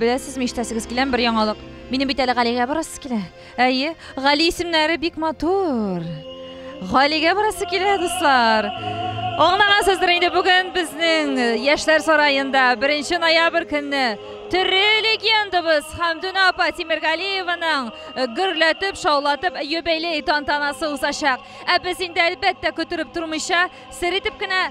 Беләсезме, ишетәсегез киләме бер яңалык? Минем бит әле Галигә барасы килә. Әйе, Гали исемнәре бик матур. Галигә барасы килә, дуслар. Аңлагансыздыр инде бүген безнең э, яшьләр сараенда 1 ноябрь көнне төрле легендабыз Хамдуна апа Тимергалиеваның э, гөрләтеп, шаулатып юбилей тантанасы узачак. Ә без инде әлбәттә көттереп тормыйча, сер итеп кенә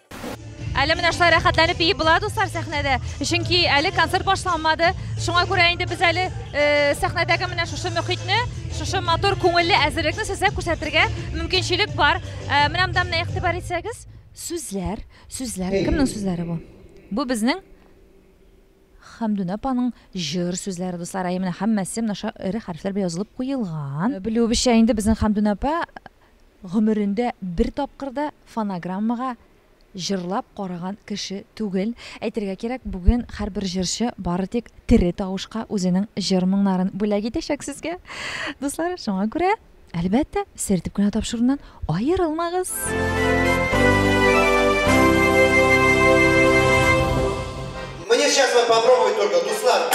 Әле менә шулай рәхәтләнеп биеп була, дуслар, сәхнәдә. Чөнки әле концерт башланмады. Шуңа күрә инде без әле э, сәхнәдәге менә шушы мөхитне, шушы матур күңелле әзерлекне сезгә күрсәтергә мөмкинчелек бар. Э, менә монда менә игътибар итсәгез, сүзләр, сүзләр. Кемнең сүзләре бу? Бу безнең Хәмдүнә апаның җыр сүзләре, дуслар. Әйе, менә һәммәсе менә шушы эре хәрефләр белән язылып куелган. Э, Белүебезчә инде безнең Хәмдүнә апа Гомерендә бер тапкыр да фонограммага җырлап караган кеше түгел. Әйтергә кирәк, бүген һәрбер җырчы бары тик тере тавышка үзенең җыр-моңнарын бүләк итәчәк сезгә, дуслар, шуңа күрә, әлбәттә, сертеп кенә тапшыруыннан аерылмагыз! Мне сейчас вот попробовать только, дуслар.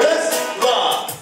Без, два,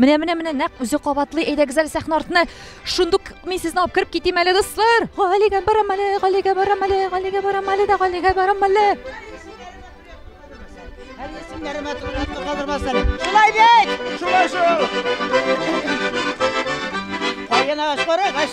Менә, менә, менә, нәкъ үзе кабатлый. Әйдәгез әле сәхнә артына. Шундук мин сезне алып кереп китим әле, дуслар. Галигә барам әле, Галигә барам әле, Галигә барам әле дә, Галигә барам әле. Әле исемнәремә турында калдырмас әле. Шулай бит! Шулай шул. Кайын агач бар агач.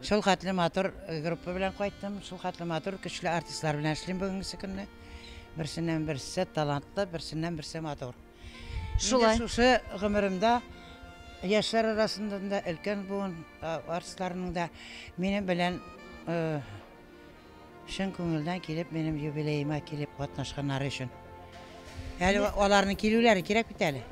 Шулхәтле матур группа белән кайттым, шулхәтле матур, көчле артистлар белән эшлим бүгенгесе көнне. Берсеннән берсе талантлы, берсеннән берсе матур. Шулай. Инде шушы гомеремдә яшьләр арасында да өлкән буын а, артистларының да минем белән э, Чын күңелдән килеп, минем юбилеема килеп катнашканнары өчен. Әле аларның килүләре кирәк бит әле.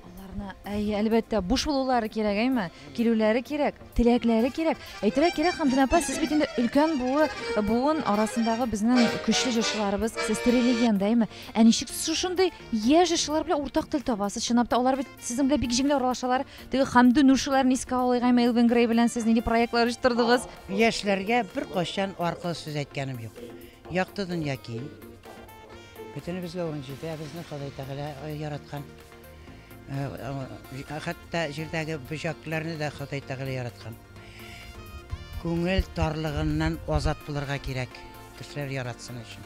Аларны, әйе, әлбәттә, буш булулары кирәк, әйме? Килүләре кирәк, теләкләре кирәк. Әйтергә кирәк, Хамдүнә апа, сез бит инде өлкән буы, буын арасындагы безнең көчле җырчыларыбыз, сез тере легенда, әйме? Ә ничек сез шушындый яшь җырчылар белән уртак тел табасыз? Чынлап та, алар бит Сезнең белән бик җиңел аралашалар. Теге Хамду Нуршиларны искә алыйк, Эмил Венгрей белән сез нинди проектлар оештырдыгыз? Яшьләргә бер кайчан аркылы сүз әйткәнем юк. Якты дөнья киң. Бөтенебезгә ун җитә, безне Ходай Тәгалә э, яраткан. Э, э, хәтта җирдәге бөҗәкләрне дә Ходай Тәгалә яраткан. Күңел тарлыгыннан азат булырга кирәк, кешеләр яратсын өчен.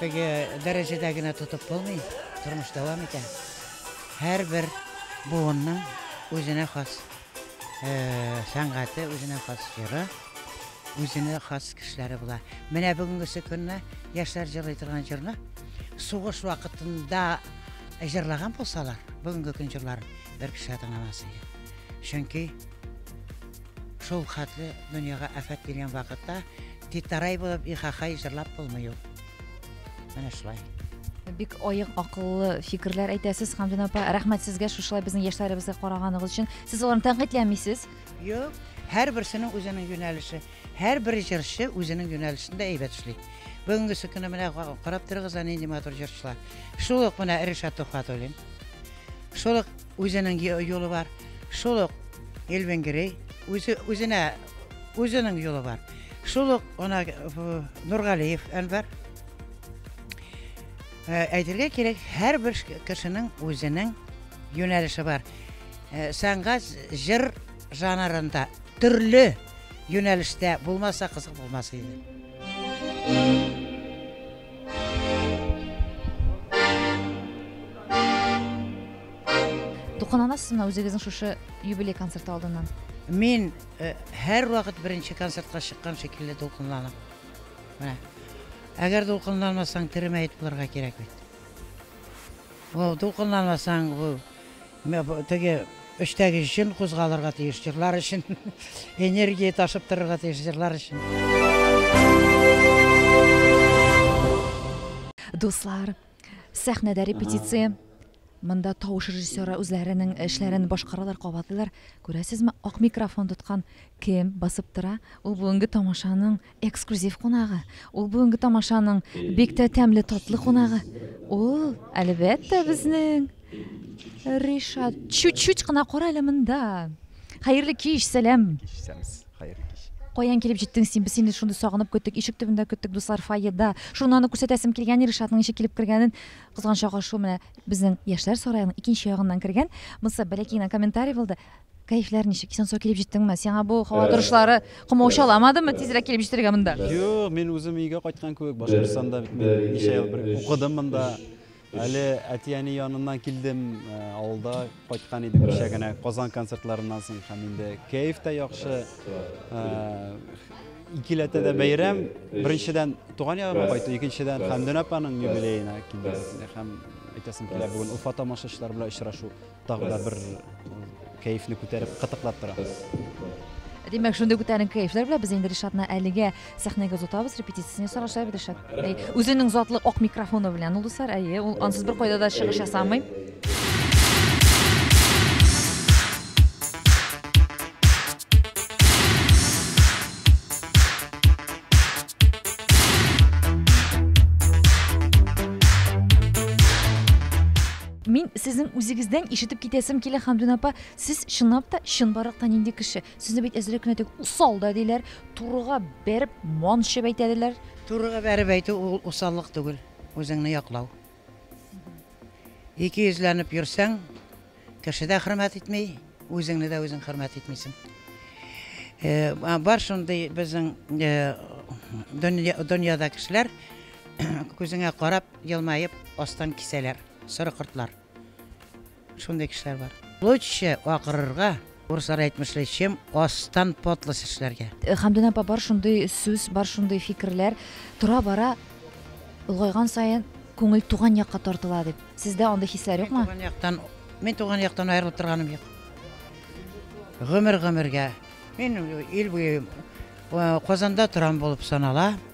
Теге дәрәҗәдә генә тотып булмый, тормыш дәвам итә. Һәрбер буынның үзенә хас сәнгате, үзенә хас җыры, үзенә хас кешеләре була. Менә бүгенгесе көнне яшьләр җырлый торган җырны сугыш вакытында җырлаган булсалар, бүгенге көн җырларын бер кеше дә тыңламас иде. Чөнки Шул хәтле дөньяга афәт килгән вакытта титарай булып ихахай җырлап булмый ул. Менә шулай. Бик аек акыллы фикерләр әйтәсез, Хамдин апа. Рәхмәт сезгә шушылай безнең яшьләребезгә караганыгыз өчен. Сез аларны тәнкыйтьләмисез? Юк, һәрберсенең үзенең юнәлеше. Һәрбер җырчы үзенең юнәлешендә әйбәт эшли. Бүгенгесе көне менә карап торыгыз, нинди матур җырчылар. Шул ук менә Ришат Тухватуллин. Шул ук Үзенең юлы бар, шул ук Эльвенгерей, үзе үзенә үзенең юлы бар. Шул ук ана Нургалиев Әнвәр. Э, әйтергә кирәк, һәрбер кешенең үзенең юнәлеше бар. Э, сәнгать җыр жанрында төрле юнәлештә булмаса кызык булмас иде. Дулкынланасызмы үзегезнең шушы юбилей концерты алдыннан? Мин э, һәр вакыт беренче концертка чыккан шикелле дулкынланам. Менә. Әгәр дулкынланмасаң, теремәет булырга кирәк бит. Бу дулкынланмасаң, бу Менә бу теге өчтәге җен кузгалырга тиеш җырлар өчен, энергия ташып торырга тиеш җырлар өчен. Дуслар, сәхнәдә репетиция. Монда тавыш режиссеры үзләренең эшләрен башкаралар, кабатлыйлар. Күрәсезме, ак микрофон тоткан кем басып тора? Ул бүгенге тамашаның Эксклюзив кунагы, ул бүгенге тамашаның бик тә тәмле татлы кунагы. Ул, әлбәттә, безнең Ришат. Чуть-чуть кына кара әле монда. Хәерле кич, сәлам. Кичсәмез. Хәерле кич. Каян килеп җиттең син? Без сине шундый сагынып көттек, ишек төбендә көттек, дуслар, фойеда. Шуны аны күрсәтәсем килгән, Ришатның ничек килеп кергәнен. Кызганчак ашу менә безнең яшьләр сараеның икенче ягыннан кергән. Монсы бәләкәй генә комментарий булды. Кәефләр ничек? Исән-сау килеп җиттеңме? Сиңа бу һава э, торышлары комаучаламадымы э, тизрәк килеп җитәргә монда? Юк, мин үзем өйгә кайткан кебек, Башкортстанда бит мин ничә ел бер укыдым монда. Әле әти-әни яныннан килдем, э, авылда кайткан идем кичә генә Казан концертларыннан соң һәм инде кәеф тә яхшы. Икеләтә дә бәйрәм. Беренчедән туган ягыма кайту, икенчедән Хәмдүн апаның юбилеена килдем. Һәм әйтәсем килә, бүген Уфа тамашачылары белән очрашу. Тагы да бер кәефне күтәреп кытыклап тора. Димәк, шундый күтәренке кәефләр белән без инде Ришатны әлегә сәхнәгә озатабыз, репетициясен ясар аша Ришат. Әй, үзенең затлы ак микрофоны белән ул дуслар, әйе, ул ансыз бер кайда да чыгыш ясамый. Мин сезнең үзегездән ишетеп китәсем килә, Хамдүн апа, сез чынлап та чынбарлыкта нинди кеше? Сезне бит әзрәк кенә теге усал да диләр, турыга бәреп ман чәбәйтә диләр. Турыга бәреп әйтү ул усаллык түгел, үзеңне яклау. Икейөзләнеп йөрсәң, кеше дә хөрмәт итми, үзеңне дә үзең хөрмәт итмисең. Э, бар шундый безнең э, дөньяда кешеләр күзеңә карап елмаеп астан кисәләр, соры кортлар. Шундый кешеләр бар. Лучше акырырга, урыслар әйтмешли, чем астан подлость эшләргә. Хәмдүн апа, бар шундый сүз, бар шундый фикерләр. Тора-бара олгайган саен күңел туган якка тартыла дип. Сездә андый хисләр юкмы? Туган яктан, мин туган яктан аерылып торганым юк. Гомер-гомергә. Мин ил буе Казанда торам булып санала.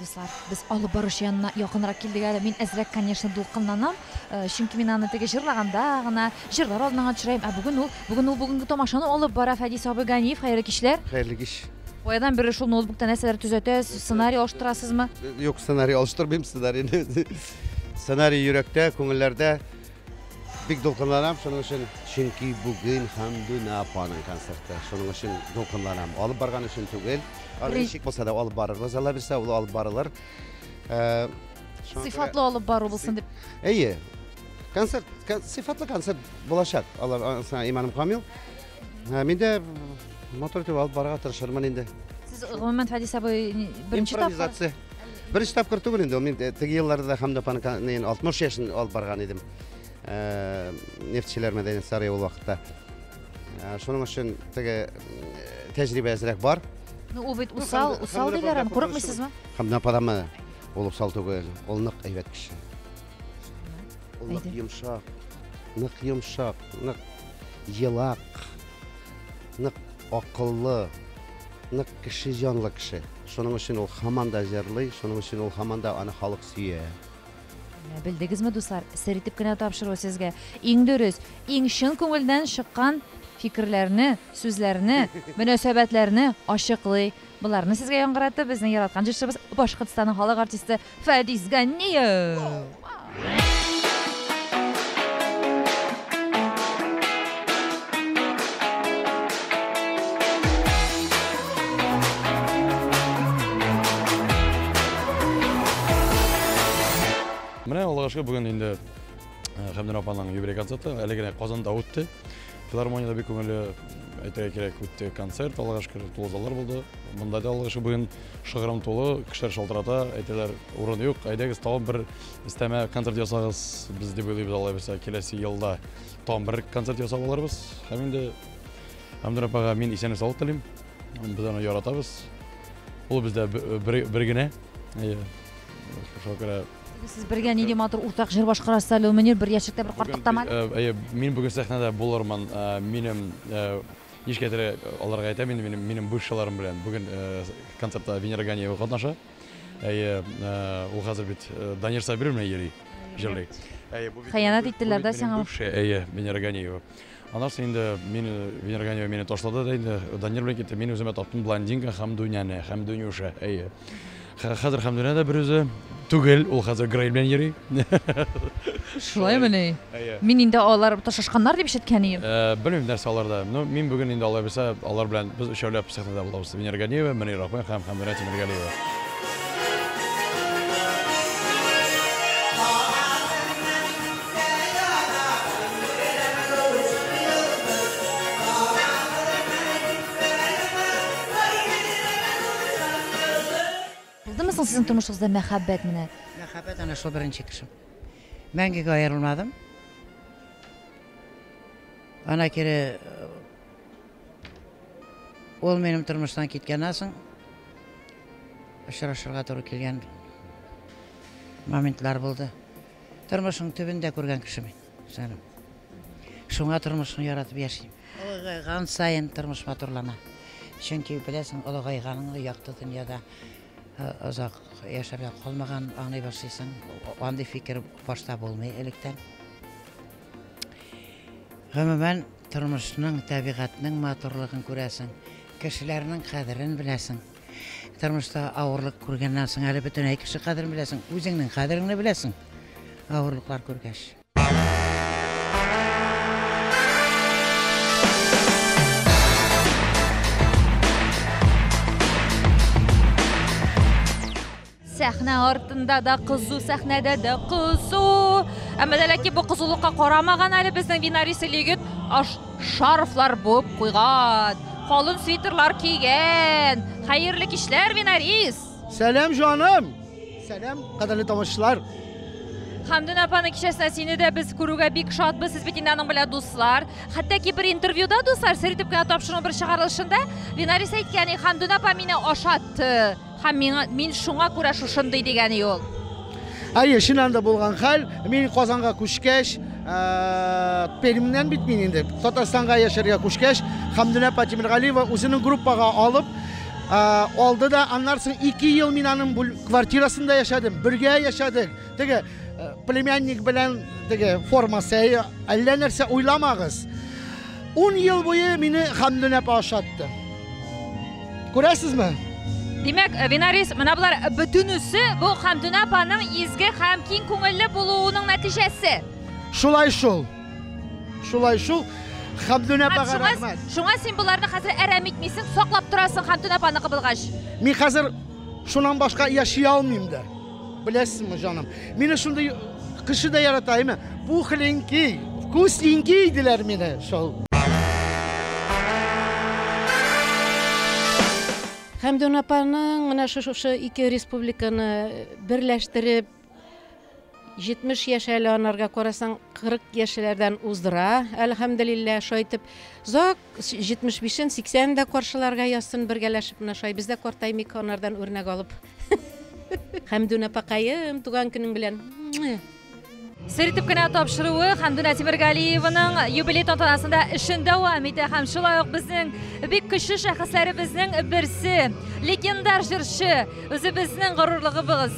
Дуслар, без алып баручы янына якынрак килдек әле. Мин әзрәк, конечно, дулкынланам, чөнки мин аны теге җырлаганда гына, җырлар алдыннан төшерәем, ә бүген ул, бүген ул бүгенге тамашаны алып бара, Фәдис абый Ганиев, хәерле кичләр! Хәерле кич! Каядан бирле шул ноутбукта нәрсәләр төзәтәсез, сценарий алыштырасызмы? Юк, сценарий алыштырмыйм, сценарийны, сценарий йөрәктә, күңелләрдә, Бик дулкынланам шуның өчен, чөнки бүген Хәмдүнә апаның концерты. Шуның өчен дулкынланам. Алып барган өчен түгел. Аны ничек булса да алып барырбыз, Алла бирсә, ул алып барылыр. Э, сыйфатлы алып бару булсын дип. Әйе. Концерт, сыйфатлы концерт булачак. Алар аңсына иманым камил. Ә, Мин дә мотор итеп алып барырга тырышырмын инде. Сез гомумән Фәдис абый беренче тапкыр Импровизация. Беренче тапкыр түгел инде, мин э, теге елларда да Хамда Панканын 60 яшен алып барган идем. Э, нефтьчеләр мәдәни сарай ул вакытта. Э, шуның өчен теге тәҗрибә әзрәк бар. Ну, ул бит ну, усал, усал диләр, курыкмыйсызмы? Хамда Падама ул усал түгел, ул нык әйбәт кеше. Ул нык йомшак, нык йомшак, нык елак, нык акыллы, нык кеше җанлы кеше. Шуның өчен ул һаман да җырлый, шуның өчен ул һаман да аны халык сөя. Менә белдегезме, дуслар? Сер итеп кенә тапшыру сезгә. Иң дөрес, иң чын күңелдән чыккан фикерләрне, сүзләрне, мөнәсәбәтләрне ачыклый. Боларны сезгә яңгыратты безнең яраткан җырчыбыз, Башкортстанның халык артисты Фәдис Ганниев! Менә Аллага шөкер, бүген инде Хәмдүнә апаның юбилей концерты әле генә Казанда үтте. Филармониядә бик күңелле, әйтергә кирәк, үтте концерт, Аллага шөкер, тулы заллар булды. Монда да, Аллага шөкер, бүген Шыгрым тулы, кешеләр шалтырата, әйтәләр, урын юк, әйдәгез, тагын бер өстәмә концерт ясагыз, без дип уйлыйбыз алай булса, киләсе елда тагын бер концерт ясап алырбыз. Һәм инде Әмдүр апага мин исәнлек саулык телим. Без аны яратабыз. Ул бездә бер, бер генә. Әйе. Шуңа күрә Сез бергә нинди матур уртак җыр башкарасыз әле, Мөнир, бер яшьлектә бер картлыкта мәл. Әйе, мин бүген сәхнәдә булырмын, минем Ничкә теле аларга әйтәм инде минем, минем бывшийларым белән. Бүген концертта Венера Ганиева катнаша. Әйе, ул хәзер бит Данир Сабиров белән йөри, җырлый. Әйе, бу бит Хыянәт иттеләр дә сиңа. Бывший, әйе, Венера Ганиева. Аннан соң инде мин Венера Ганиева мине ташлады да инде Данир белән китте. Мин үземә таптым блондинка һәм Дуняне, һәм Дунюша, әйе. Хәзер Хәмдүнә дә берүзе түгел, ул хәзер Грей белән йөри. Шулаймыни? Мин инде алар ташышканнар дип ишеткән идем. Белмим, нәрсә аларда. Ну, мин бүген инде алай булса, алар белән без өчәүләп сәхнәдә булабыз. Венера Ганиева, Мөнир Рахман һәм Хәмдүнә Тимергалиева. Булдымы соң сезнең тормышыгызда мәхәббәт менә? Мәхәббәт әнә шул беренче кешем. Мәңгегә аерылмадым. Ана кире э, ул минем тормыштан киткәннән соң очрашырга туры килгән моментлар булды. Тормышның төбен дә күргән кеше мин, җаным. Шуңа тормышны яратып яшим. Олыгайган саен тормыш матурлана. Чөнки беләсең, олыгайганыңны якты дөньяда озак яшәргә калмаган аңлый башлыйсың. Андый фикер башта булмый электән. Гомумән, тормышның, табигатьнең матурлыгын күрәсең, кешеләрнең кадерен беләсең. Тормышта авырлык күргәннән соң әле бөтен әй кеше кадерен беләсең, үзеңнең кадереңне беләсең, авырлыклар күргәч. Сәхнә артында да кызу, сәхнәдә дә кызу. Әмма дә ләкин бу кызулыкка карамаган әле безнең бинарисы егет аш шарфлар буып куйган, калын свитерлар кигән. Хәерле кичләр, бинарис! Сәлам, җаным! Сәлам, кадерле тамашачылар! Хәмдүн апаны кичәсенә сине дә без күрүгә бик шатбыз. Сез бит инде аның белән дуслар. Хәтта ки бер интервьюда дуслар сер итеп кенә тапшыру бер чыгарылышында Винарис әйткән, Хәмдүн апа мине ашатты. Һәм миңа, мин шуңа күрә шушындый дигәни ул. Әйе, чыннан да булган хәл. Мин Казанга күчкәч, Пермьнән бит мин инде. Татарстанга яшәргә күчкәч, Хәмдүнә Патимиргалиева үзенең группага алып, алды да, аннан соң ике ел мин аның квартирасында яшәдем, бергә яшәдек. Теге племянник белән теге формасы, әллә нәрсә уйламагыз. Ун ел буе мине Хәмдүнә апа ашатты. Күрәсезме? Димәк, Винарис, менә болар бөтенесе бу Хәмдүнә апаның изге һәм киң күңелле булуының нәтиҗәсе. Шулай шул. Шулай шул. Хәмдүнә апага рәхмәт. Шуңа син боларны хәзер әрәм итмисең, саклап торасың Хәмдүнә апаны кыбылгач. Мин хәзер шуннан башка яши алмыйм да. Беләсеңме, җаным, мине шундый кеше дә ярата, әйме? Пухленький, вкусненький диләр мине шул. Хәмдүн апаның менә шушы ике республиканы берләштереп 70 яшь әле анарга карасаң 40 яшьләрдән уздыра әлхәмдулилла шайтып зак Җитмеш бишен, сиксәнен дә каршыларга язсын, бергәләшеп менә шулай без дә картаймыйк, анардан үрнәк алып. Хәмдүн апакаем, туган көнең белән! Сер итеп кенә тапшыруы Хәмдүнә Тимергалиеваның юбилей тантанасында эшен дәвам итә һәм шулай ук безнең бик көчле шәхесләребезнең берсе, легендар җырчы Үзебезнең горурлыгыбыз.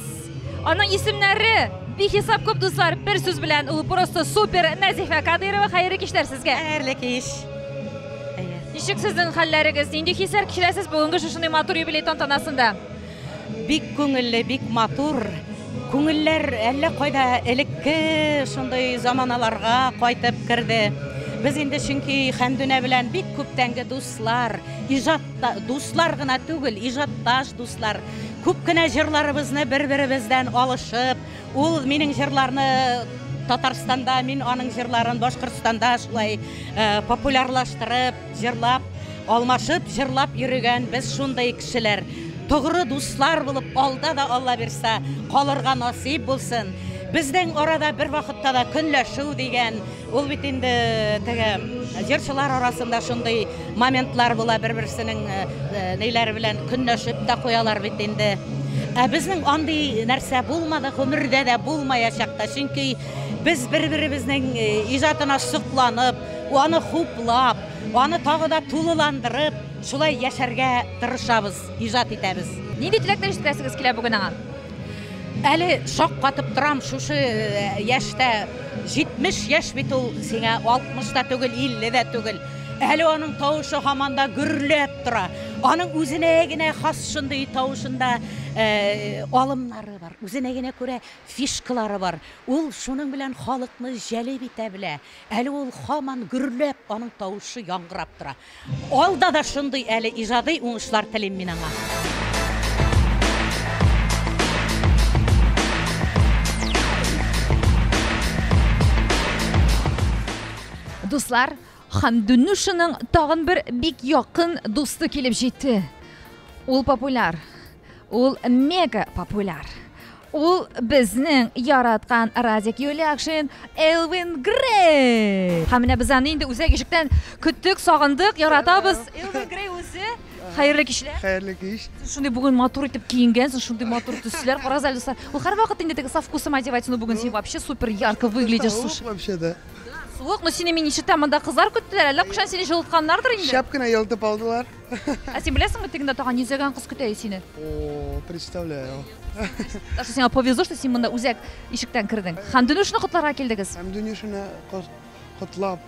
Аның исемнәре бихисап күп дуслар, бер сүз белән ул просто супер Нәзифә Кадыйрова. Хәерле кичләр сезгә. Хәерле кич. Ничек сезнең хәлләрегез? Нинди хисләр кичерәсез бүгенге шушындый матур юбилей тантанасында? Бик күңелле, бик матур. Күңелләр әллә кайда элекке шундый заманаларга кайтып керде. Без инде чөнки Хәмдүнә белән бик күптәнге дус Дуслар, иҗатта дуслар гына түгел, иҗатташ дуслар. Күп кенә җырларыбызны бер-беребездән алышып, ул минем җырларны Татарстанда, мин аның җырларын Башкортстанда шулай э, популярлаштырып, җырлап, алмашып, җырлап йөрегән без шундый кешеләр. Тугры дуслар булып, алда да Алла бирсә, калырга насыйп булсын. Безнең арада бер вакытта да көнләшү дигән Ул бит инде теге җырчылар арасында шундый моментлар була, бер-берсенең э, э, ниләре белән көнләшеп тә куялар бит инде. Ә безнең андый нәрсә булмады, гомердә дә булмаячак та. Чөнки без бер-беребезнең э, иҗатына сокланып, аны хуплап, аны тагы да тулыландырып, шулай яшәргә тырышабыз, иҗат итәбез. Нинди теләкләр җиткерәсегез килә бүген аңа? Әле шаккатып торам, шушы э, яшьтә 70 яшь бит ул сиңа 60 та түгел, 50 дә түгел. Әле аның тавышы һаман да гөрләп тора. Аның үзенә генә хас шундый тавышында э, алымнары бар. Үзенә генә күрә фишкалары бар. Ул шуның белән халыкны җәлеп итә белә. Әле ул һаман гөрләп, аның тавышы яңгырап тора. Алда да шундый әле иҗадый уңышлар телим мин аңа. Дуслар, Хамдунушының тагын бер бик якын дусты килеп җитте. Ул популяр. Ул мега популяр. Ул безнең яраткан Радик Юлякшин Элвин Грей. Һәм менә без аны инде үзәк ишектән көттек, сагындык, яратабыз. Элвин Грей үзе. Хәерле кичләр. Хәерле кич. Шундый бүген матур итеп киенгәнсең, шундый матур төсләр. Карагыз әле, дуслар. Ул һәрвакыт инде теге со вкусом одевать, но бүген син вообще супер ярко выглядишь, слушай. Вообще да. Суык, но сине мин ишетәм, монда кызлар көттеләр, әллә кушан сине җылытканнардыр инде. Шәп кенә елытып алдылар. Ә син беләсеңме, тегендә тагын йөзәгән кыз көтә сине? О, представляю. Даша, сиңа повезло, что син монда үзәк ишектән кердең. Һәм Дөнюшны котларга килдегез. Һәм Дөнюшны котлап,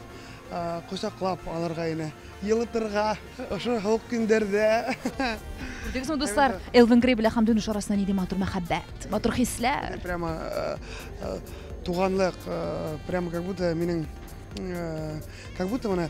кочаклап алырга ине. Елытырга, ошо һавык көндәрдә. Күрдегезме, дуслар, Элвин Грей белән һәм Дөнюш арасында нинди матур мәхәббәт, матур хисләр. Прямо туганлык, прямо как будто минем, как будто менә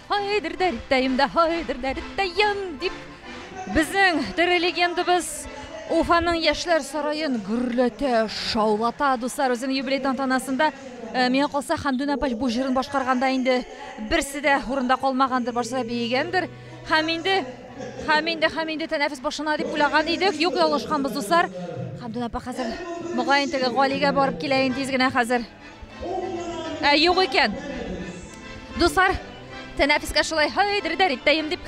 Һай дер дәр иттәем дә, һай дер дәр иттәем дип безнең тере легендабыз Уфаның яшьләр сараен гөрләтә, шаулата. Дуслар, үзем юбилей тантанасында э, миңа калса Хәмдүн апач бу җырын башкарганда инде берсе дә урында калмагандыр, барсы да биегәндер. Һәм инде һәм инде һәм инде тәнәфес башына дип уйлаган идек. Юк, ялгышканбыз, дуслар. Хәмдүн апа хәзер мөгаен теге Галигә барып килә инде тиз генә хәзер. Ә юк икән. Дуслар, тәнәфескә шулай һай дердәр иттәем дип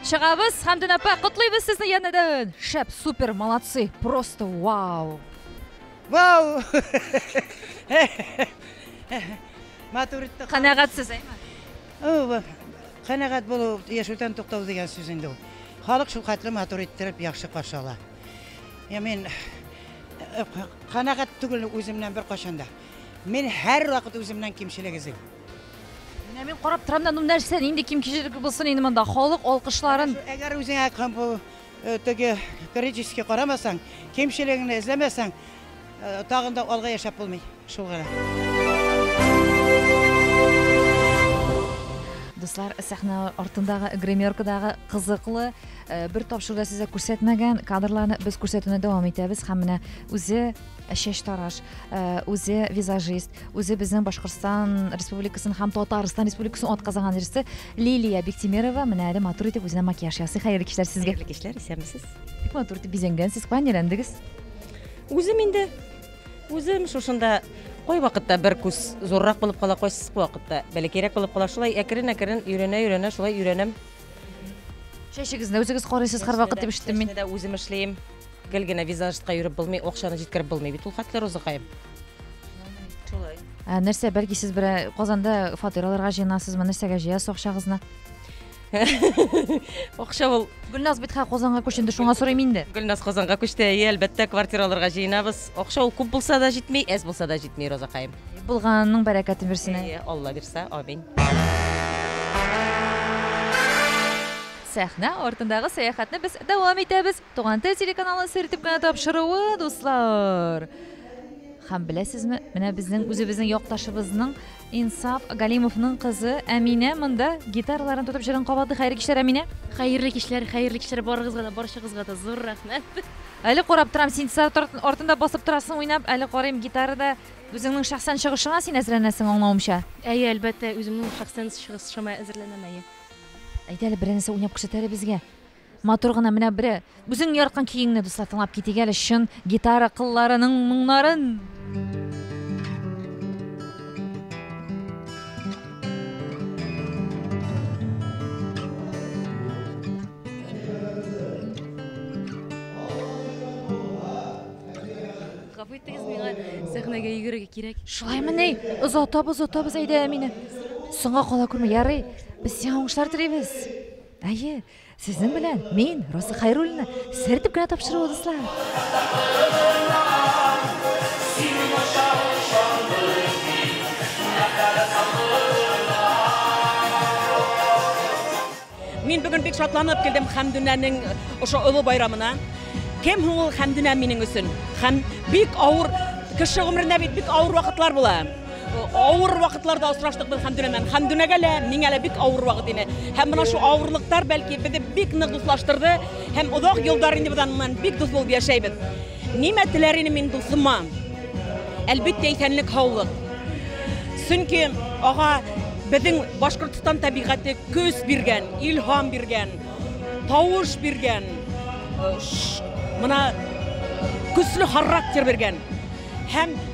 чыгабыз. Хәмдүн апа, котлыйбыз сезне янәдән. Шәп, супер, молодцы, просто вау. Вау! Матур итте. Канәгатьсез, әйме? Канәгать булу яшәүдән туктау дигән сүз инде ул. Халык шул хәтле матур иттереп, яхшы каршы ала. Я мин канәгать э, түгел үземнән бер кашанда. Мин һәр вакыт үземнән кимчелек эзлим. Менә мин карап торам да, ну нәрсә, нинди кимчелек булсын инде монда? Халык алкышларын. Әгәр үзеңә кем бу э, теге критически карамасаң, кимчелегеңне эзләмәсәң, Тагын да алга яшәп булмый, шул гына. Дуслар, сәхнә артындагы гримеркадагы кызыклы э, бер тапшыруда сезгә күрсәтмәгән кадрларны без күрсәтүне дәвам итәбез һәм менә үзе э, чәч тараш, э, үзе визажист, үзе безнең Башкортстан Республикасын һәм Татарстан Республикасын атказанган җырчы Лилия Биктимерова менә әле матур итеп үзенә макияж ясый. Хәерле кичләр сезгә. Хәерле кичләр, исәнмесез. Бик матур итеп бизәнгәнсез, кая әйләндегез? Үзем инде, үзем шушында кайвакытта бер күз зуррак булып кала, кайсы вакытта бәләкәйрәк булып кала. Шулай әкрен-әкрен өйрәнә-өйрәнә, шулай өйрәнәм. Чәчегезне үзегез карыйсыз һәрвакыт дип ишеттем мин. Чәчне дә үзем эшлим. Гел генә визажистка йөреп булмый, акчаны җиткереп булмый бит ул хәтле Розыкаем. Шулай. Ә, нәрсә, бәлки сез бер Казанда фатир алырга җыенасызмы? Нәрсәгә җыясыз акчагызны? Акча ул. Гөлназ бит хә Казанга күченде, шуңа сорыйм инде. Гөлназ Казанга күчте, әйе, әлбәттә, квартира алырга җыенабыз. Акча ул күп булса да җитми, әз булса да җитми, Розакаем. Булганның бәрәкәтен бирсен. Әйе, Алла бирсә, амин. Сәхнә артындагы сәяхәтне без дәвам итәбез. Туган тел телеканалы сер итеп кенә тапшыруы, дуслар. Хәм беләсезме, менә безнең үзебезнең якташыбызның Инсаф Галимовның кызы Әминә монда гитараларын тотып җырын кабаты. Хәерле кичләр, Әминә. Хәерле кичләр, хәерле кичләр барыгызга да, барчагызга да зур рәхмәт. Әле карап торам, син сарт артында басып торасың уйнап, әле карыйм гитарада үзеңнең шәхсән чыгышыңа син әзерләнәсең аңлавымча. Әйе, әлбәттә, үземнең шәхсән чыгышыма әзерләнәм, әйе. Әйдә әле берәрсе уйнап күрсәт әле безгә. Матур гына менә бере. Үзең яраткан көеңне дуслар тыңлап китик әле чын гитара кылларының моңнарын. Гафу итегез миңа сәхнәгә йөгерергә кирәк. Шулаймы ни? Озатабыз, озатабыз әйдә мине. Соңга кала күрмә, ярый. Без сиңа уңышлар телибез. Әйе, сезнең белән мин, Роза Хайруллина, сертеп кенә тапшыру дуслар. Мин бүген бик шатланып килдем Хәмдүнәнең ошо олы байрамына. Кем һуң ул Хәмдүнә минең өчен? Хәм бик авыр кеше гомерендә бит бик авыр вакытлар була. Авыр вакытларда очраштык без Хәмдүнә белән. Хәмдүнәгә лә, миңа лә бик авыр вакыт иде. Һәм менә шу авырлыктар бәлки безне бик нык дуслаштырды һәм озак еллар инде без аннан бик дус булып яшәйбез. Нимә теләр инем мин дусыма? Әлбәттә, исәнлек, һаулык. Чөнки ага безнең Башкортстан табигате көс биргән, илһам биргән, тавыш биргән, э, ш- мына көсле характер биргән. Һәм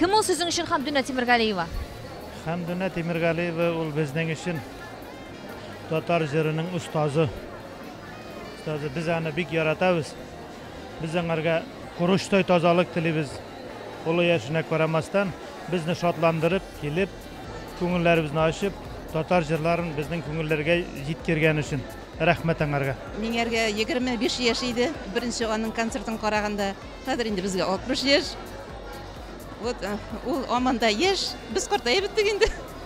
Кем ул сезнең өчен Хәмдүнә Тимергалиева? Хәмдүнә Тимергалиева ул безнең өчен Татар җырының остазы. Остазы, без аны бик яратабыз. Без аңарга корочтай тазалык телибез. Олы яшенә карамастан, безне шатландырып, килеп, күңелләребезне ачып, татар җырларын безнең күңелләргә җиткергән өчен рәхмәт аңарга. Миңәргә 25 яшь иде, беренче аның концертын караганда. Хәзер инде безгә 60 яшь. Вот, ул һаман да яшь. Без картаеп беттек инде.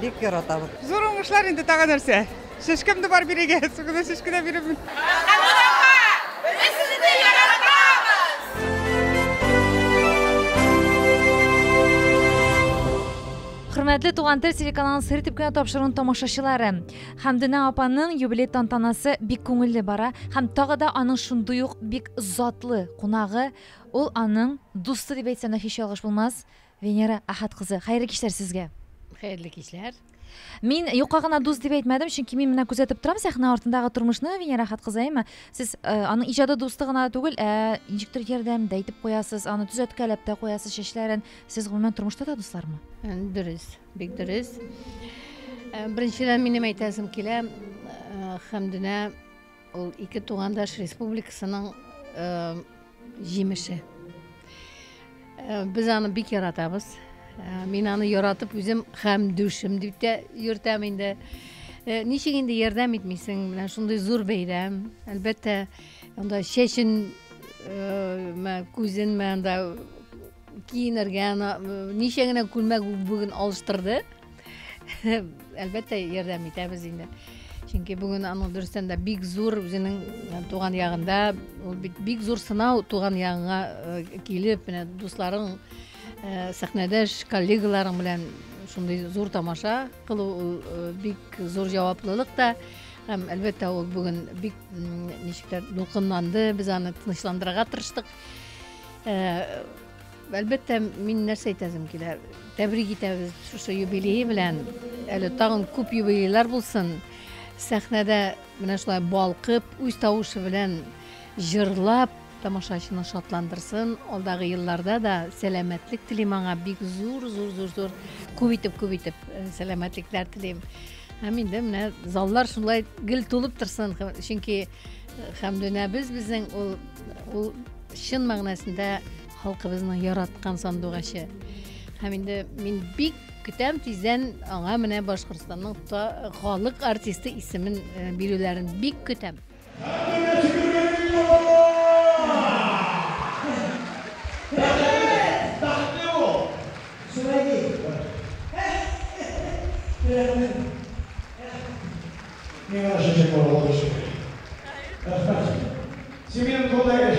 Бик яратабыз. Зур уңышлар инде тагы нәрсә. Шешкәм дә бар бирегез. Бүгін шешке дә бирәмен. Хөрмәтле Туган тел телеканалының сыр итеп кенә тапшыруын тамашачылары. Хәмдүнә апаның юбилей тантанасы бик күңелле бара һәм тагы да аның шундый ук бик затлы кунагы, ул аның дусты дип әйтсәм дә һич ялгыш булмас, Венера Әхәт кызы, хәерле кичләр сезгә! Хәерле кичләр! Мин юкка гына дус дип әйтмәдем, чөнки мин менә күзәтеп торам сәхнә артындагы тормышны, Венера Әхәт кызы, әйме? Сез э, аның иҗады дусты гына түгел, ә ничектер ярдәм дә итеп куясыз, аны төзәткәләп тә куясыз чәчләрен. Сез гомумән тормышта да дуслармы? Э, дөрес, бик дөрес. Э, беренчедән минем әйтәсем килә, Хәмдүнә Ул ике тугандаш республикасының җимеше. Без аны бик яратабыз. Мин аны яратып үзем хәм дүшем дип тә йөртәм инде. Ничек инде ярдәм итмисең, менә шундый зур бәйрәм. Әлбәттә, анда чәчен мә күзен мәндә киенергә, ничә генә күлмәк бүген алыштырды. Әлбәттә, ярдәм итәбез инде. Чөнки бүген аның дөрестән дә бик зур үзенең э, туган ягында, ул бит бик зур сынау туган ягыңа э, килеп, менә дусларың, э, сәхнәдәш коллегаларың белән шундый зур тамаша кылу ул э, бик зур җаваплылык та. Һәм әлбәттә ул бүген бик м, ничектер дулкынланды, без аны тынычландырырга тырыштык. Э, Әлбәттә, мин нәрсә әйтәсем килә. Тәбрик итәбез шушы юбилей белән. Әле тагын күп юбилейлар булсын. Сәхнәдә менә шулай балкып, үз тавышы белән җырлап, тамашачыны шатландырсын. Алдагы елларда да сәламәтлек телим аңа бик зур, зур, зур, зур күп итеп, күп итеп э, сәламәтлекләр телим. Һәм инде менә заллар шулай гел тулып торсын, чөнки э, Хәмдүнәбез безнең ул ул чын мәгънәсендә Халкыбызның яраткан сандугачы. Һәм инде мин бик көтәм тиздән аңа менә Башкортстанның халык артисты исемен э, бирүләрен бик көтәм. Семен Кулдаевич,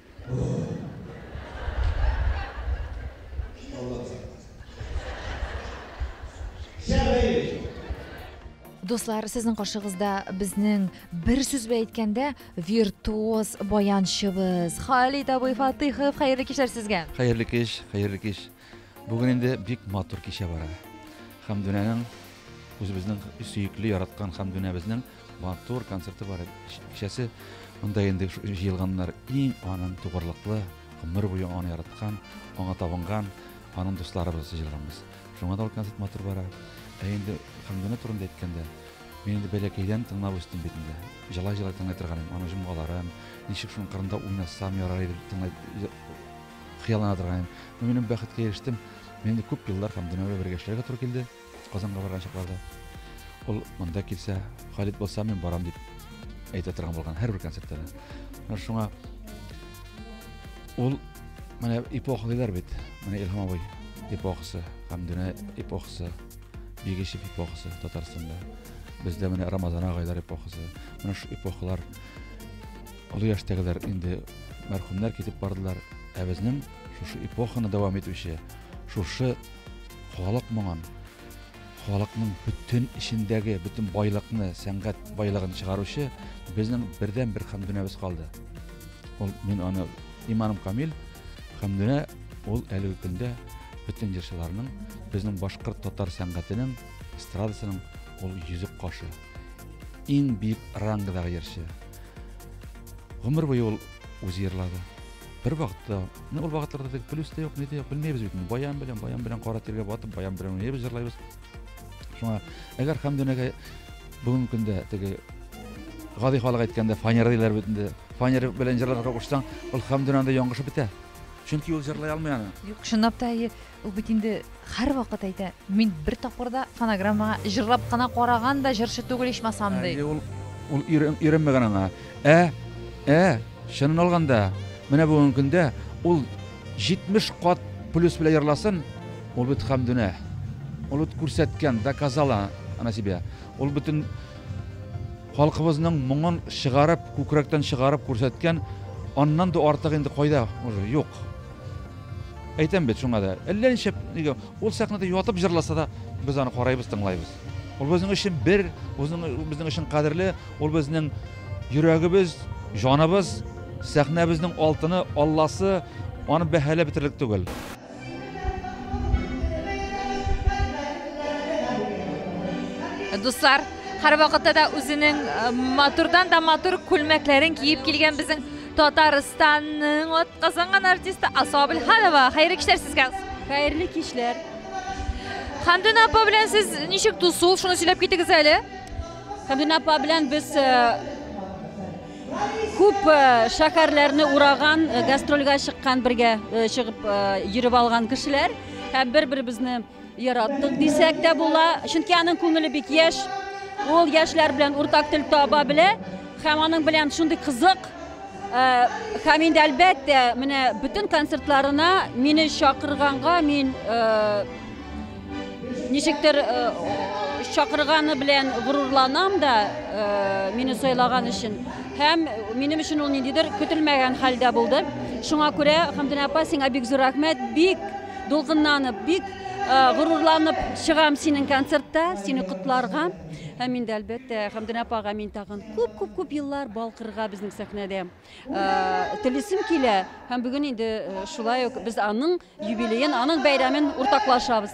Дуслар, сезнең каршыгызда безнең бер сүз белән әйткәндә виртуоз баянчыбыз Халит абый Фатыйхов. Хәерле кичләр сезгә. Хәерле кич, хәерле кич. Бүген инде бик матур кичә бара. Хәмдүнәнең үзебезнең сөекле яраткан Хәмдүнәбезнең матур концерты бар. Кичәсе монда инде җыелганнар иң аның тугырлыклы, гомер буе аны яраткан, аңа табынган, аның дусларыбыз җыелганбыз. Шуңа да ул концерт матур бара. Ә инде Хәмдүнә турында әйткәндә, мин инде бәләкәйдән тыңлап үстем бит инде. Җылай-җылай тыңлый торган идем аның җомгаларын, ничек шуның кырында уйнасам ярар иде тыңлай хыяллана торган идем. Ну, минем бәхеткә ирештем. Мин инде күп еллар һәм дөньяга бергә эшләргә туры килде. Казанга барган чакларда. Ул монда килсә, Халит булса, мин барам дип әйтә торган булган һәрбер концертта. Ну, шуңа ул менә эпоха диләр бит. Менә Илһам абый эпохасы һәм дөнья эпохасы, Бигешев эпохасы Татарстанда. Бездә менә Рамазан агайлар эпохасы. Менә шу эпохалар Олы яшьтәгеләр инде мәрхүмнәр китеп бардылар, ә безнең шушы эпоханы дәвам итүче, шушы халык моңын, халыкның бөтен эчендәге бөтен байлыкны, сәнгать байлыгын чыгаручы безнең бердән бер Хәмдүнәбез калды. Ул мин аны иманым камил, Хәмдүнә ул әлеге көндә бөтен җырчыларның, безнең башкорт татар сәнгатенең, эстрадасының ул йөзек кашы. Иң биек рангыдагы йырчы. Гомер буе ул үзе йырлады. Бер вакытта, менә ул вакытларда теге плюс та юк, ни дә юк, белмәйбез бит. Баян белән, баян белән кара тиргә батып, баян белән уйнайбыз, җырлайбыз. Шуңа, әгәр Хәмдүнәгә бүгенге көндә теге гади халык әйткәндә фанера диләр бит инде. Фанера белән җырларга кушсаң, ул Хәмдүнәдә яңгышы бетә. Чөнки ул җырлый алмый аны. Юк, чынлап та әйе. Ул бит инде һәрвакыт әйтә, мин бер тапкыр да фонограммага җырлап кына караган да җырчы түгел ичмасам ди. Ул ул өйрәнмәгән аңа. Ә, ә, чынын алганда, менә бүгенге көндә ул 70 кат плюс белән җырласын, ул бит хамдүнә. Ул бит күрсәткән, доказала она себя. Ул бөтен халкыбызның моңын чыгарып, күкрәктән чыгарып күрсәткән, аннан да артык инде кайда уже юк. Әйтәм бит шуңа да. Әллә нишләп, нигә ул сәхнәдә ятып җырласа да, без аны карайбыз, тыңлайбыз. Ул безнең өчен бер, үзенең безнең өчен кадерле, ул безнең йөрәгебез, җаныбыз, сәхнәбезнең алтыны, алласы, аны бәһаләп бетерлек түгел. Дуслар, һәрвакытта да үзенең матурдан да матур күлмәкләрен киеп килгән безнең Татарстанның атказанган артисты Асо Абелханова. Хәерле кичләр сезгә. Хәерле кичләр. Хандун апа белән сез ничек дусул, шуны сөйләп китегез әле. Хандун апа белән без э, күп э, шәһәрләрне ураган, э, гастрольгә чыккан бергә чыгып йөреп алган кешеләр һәм бер-беребезне Яраттык дисәк тә була, чөнки аның күңеле бик яшь. Ул яшьләр белән уртак тел таба белә һәм аның белән шундый кызык Э, һәм инде әлбәттә менә бөтен концертларына мине чакырганга мин э, ничектер э, чакырганы белән горурланам да мине сайлаган өчен һәм минем өчен ул ниндидер көтелмәгән хәлдә булды шуңа күрә хамдина апа сиңа бик зур рәхмәт бик Дулкынланып, бик горурланып чыгам синең концертта, сине котларга. Һәм инде әлбәттә Хәмдүнә апага мин тагын күп-күп-күп еллар балкырга безнең сәхнәдә телисем килә. Һәм бүген инде шулай ук без аның юбилеен, аның бәйрәмен уртаклашабыз.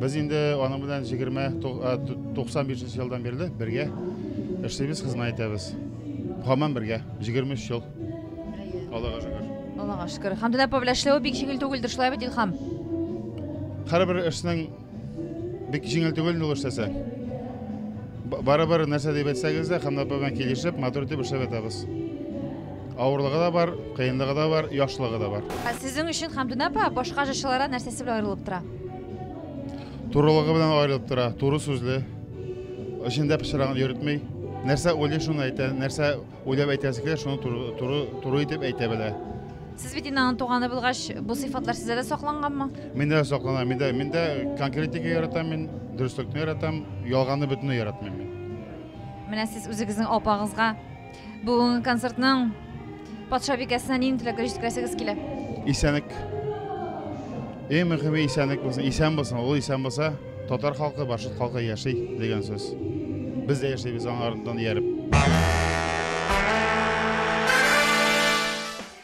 Без инде аның белән 20-95 елдан бирле бергә эшлибез, хезмәт итәбез. Һаман бергә, 23 ел. Аллага шөкер. Аллага шөкер. Һәм дә повләшләү бик җиңел түгелдер, шулай бит, Илхам? Һәрбер эшнең бик җиңел түгел ул эшләсә. Барыбер нәрсә дип әйтсәгез дә, һәм дә белән килешеп, матур итеп эшләп ятабыз. Авырлыгы да бар, кыенлыгы да бар, яхшылыгы да бар. Ә сезнең өчен Хәмдүнә апа башка җырчыларга нәрсәсе белән аерылып тора? Турылыгы белән аерылып тора, туры сүзле. Эчендә пычрагын йөртми. Нәрсә уйлый, шуны әйтә, нәрсә уйлап әйтәсе килә, шуны туры, туры, туры итеп әйтә белә. Сез бит инде аның туганы булгач, бу сыйфатлар сездә дә сакланганмы? Миндә дә саклана, миндә, миндә конкретика яратам мин, дөреслекне яратам, ялганны бөтенләй яратмыйм мин. Менә сез үзегезнең апагызга Бүгенге концертның патша бикәсенә нинди теләкләр җиткерәсегез килә? Исәнлек. Иң мөһиме исәнлек булсын. Исән булсын. Ул исән булса, татар халкы, башкорт халкы яши дигән сүз. Без дә яшибез аңардан ияреп.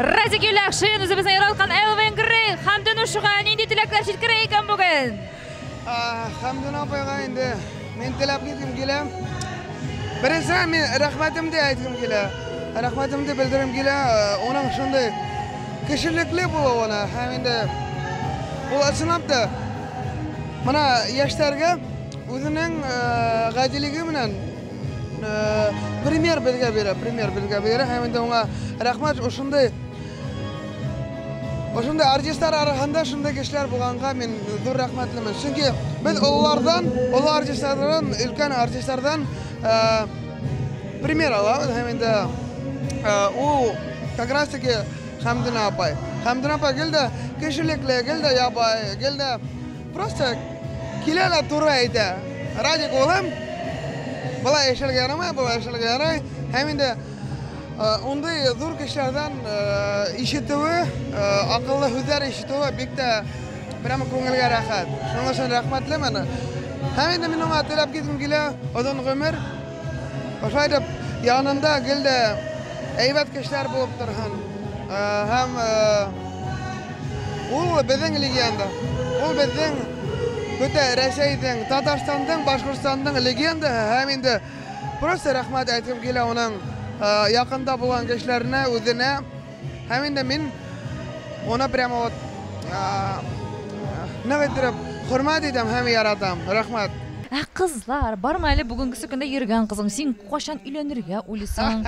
Радик Юлякшин үзебезнең яралкан Элвин Грей Хәмдүн Ушуга нинди теләкләр җиткерә икән бүген? Хәмдүн апайга инде мин теләп киткем килә. Беренчедән мин рәхмәтемне әйтәм килә. Рәхмәтемне белдерәм килә. Уның шундый кешелекле булуына һәм инде ул ачынап та менә яшьләргә үзенең гадилеге белән Премьер безгә бирә, премьер безгә бирә, һәм инде аңа рәхмәт ошындый Ошында артистлар арасында шундый кешеләр булганга мин зур рәхмәтлемен. Чөнки без олылардан, олы артистлардан, өлкән артистлардан э, пример алабыз һәм инде э, ул как раз таки Хәмдүнә апай. Хәмдүнә апай гел дә кешелекле, гел дә ябай, гел дә Просто киләләр туры әйтә. Радик улым, болай эшләргә ярамай, болай эшләргә ярай. Һәм инде ундый э, зур кешеләрдән э, ишетүе, э, акыллы һүзләр ишетүе бик тә прямо күңелгә рәхәт. Шуның өчен рәхмәтлемен. Һәм инде мин аңа теләп киткем килә, озын гомер, Шулай итеп, янында гел дә әйбәт кешеләр булып торһын. Һәм ул безнең легенда. Ул безнең бөтә Рәсәйнең, Татарстанның, Башкортстанның легендаһы һәм инде просто рәхмәт әйтеп килә уның якында булган кешеләренә, үзенә. Һәм инде мин аны прямо вот нык иттереп хөрмәт итәм һәм яратам. Рәхмәт. Ә кызлар, бармы әле бүгенгесе көндә йөргән кызың? Син кайчан өйләнергә уйлыйсың?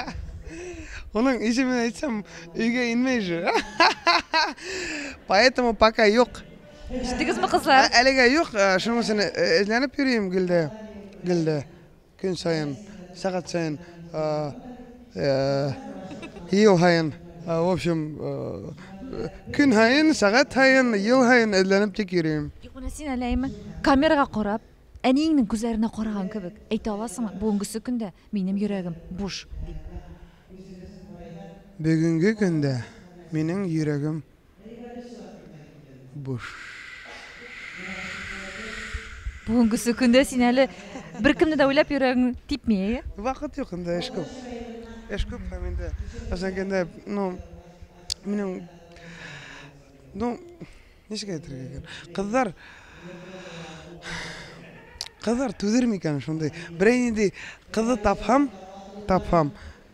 Оның исемен әйтсәм, өйгә инмәй же. Поэтому пока юк. Ишеттегезме, кызлар? Әлегә юк, шунысын эзләнеп йөрим, Гөлдә. Гөлдә. Көн саен, сәгать саен, ел һаен, в общем, көн һаен, сәгать һаен, ел һаен эзләнеп тик йөрим. Юк, менә син әле әйме, камерага карап, әниеңнең күзләренә караган кебек, әйтә аласыңмы, бүгенгесе көндә минем йөрәгем буш. Бүгенге көндә минем йөрәгем Бүгенгесе көндә син әле беркемне дә уйлап йөрәгең типми, әйе? Вакыт юк инде, эш күп. Эш күп һәм инде әзәгендә, ну, минем ну, ничек әйтергә икән? Кызлар Кызлар түзерме икән шундый? Берәй нинди кызы тапһам, тапһам,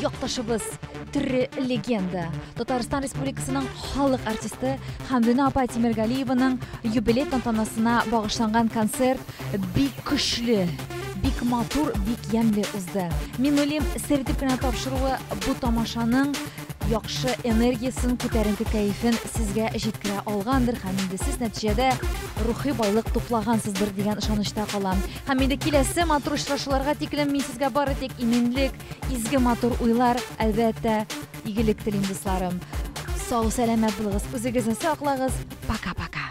Якташыбыз, тере легенда, Татарстан Республикасының халык артисты Хәмдүнә апа Тимергалиеваның юбилей тантанасына багышланган концерт бик көчле, бик матур, бик ямьле узды. Минулим сертип кенә тапшыруы бу тамашаның яхшы энергиясен, күтәренке кәефен сезгә җиткерә алгандыр һәм инде сез нәтиҗәдә рухи байлык туплагансыздыр дигән ышанычта калам. Һәм инде киләсе матур очрашуларга тиклем мин сезгә бары тик иминлек, изге матур уйлар, әлбәттә, игелек телим, дусларым. Сау, сәламәт булыгыз, үзегезне саклагыз. Пока-пока.